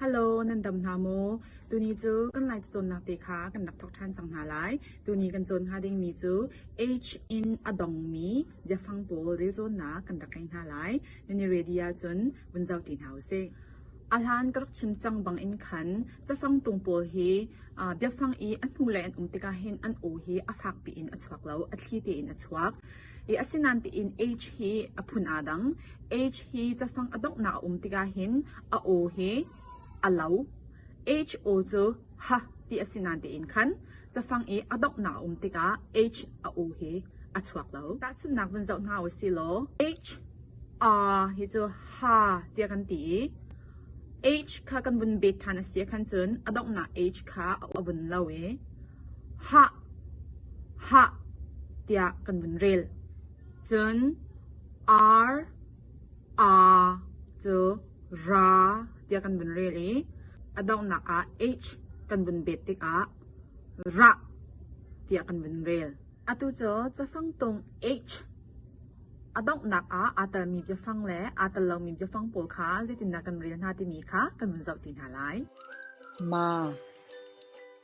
Hello, nan dam hna maw? Tuni cu kan lai cawnnak te kha kan rak thok ṭhan cang hna lai. Tuni kan cawn hnga dingmi cu H in a dongmi biafang pawl relcawnnak kan rak ngei hna lai. Nan i ready ahcun vun zau ṭi hna u sih. A hlan ka rak chim cang bang in khan cafang tung pawl hi uh, biafang i a hnu le an um tikah hin an u hi a fak piin a chuak lo, a thli tein a chuak. Asinain tiin age hi a phun aa dang. Age hi cafang a donghnak a um tikah hin a aw hi a lo. H-aw cu ha ti a si nain tiin khan cafang i a donghnak a um tikah H a aw hi a chuak lo. Tahchunhnak vun zoh hna u si law H r hi cu ha tiah kan ti i H kha kan vun bet ṭhan a si ahkhan cun a donghnak H kha a vun lo i Hah! Hah! tiah kan vun rel. Cun ar, a cu ra tiah kan vun rel i a donghnak ah h kan vun bet tikah rah tiah kan vun rel. Atu cu cafang tung h a donghnak ah aa telmi biafang le aa tel lomi biafang pawl kha zeitindah kan rel hna timi kha kan vun zoh ti hna lai. Ma.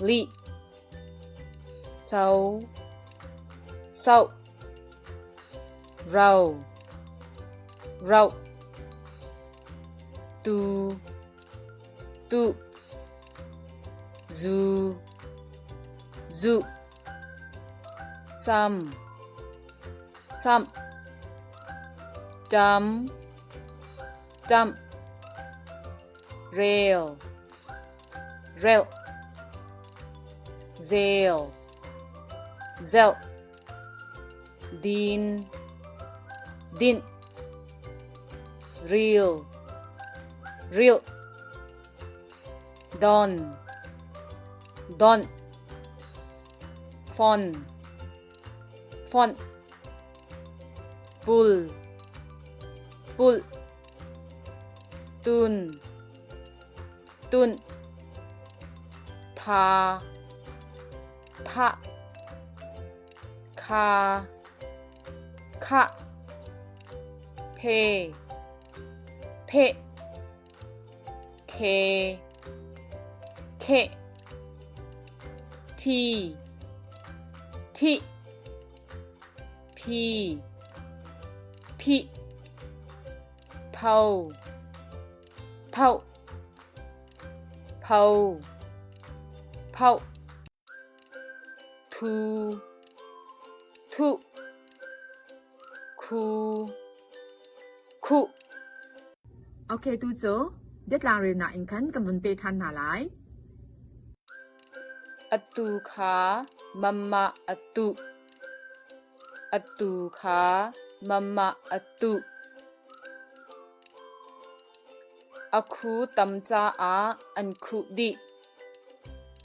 lih so so rau rau tu tu zu zu sam sam jump jump rail reuh, zel, zeuh, din, dinh, ril, rilh, don, donh, fon, fonh, pul, pulh, tun tunh pha phah kha khah phe phe khe khe thi thi phi phi phau Phoh pho phoh thu thu khu khu Okay tu cu detlang rel nak in khan kan vun pe than hna lai. Atu kha mamma atu Atu kha mamah a tuh. A khu tam caah an khuh dih.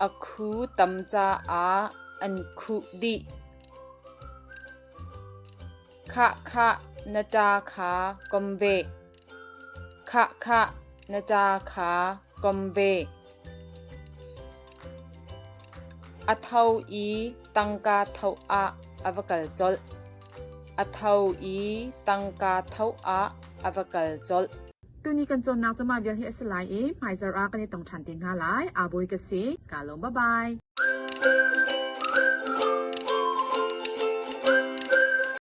A khu tam caah an khuh dih. Khahkhah na ṭa kha kom ve. Khahkhah na ca kha kom ve. A tho i tangka tho ah a va kal colh. A tho i tangka tho ah a va kal colh. Tuni kan cawnnak cama vial hi a si lai i hmaizar ah kan i tong ṭhan te hna lai. Aa boi ka si. Kaa lawm. Bye-bye.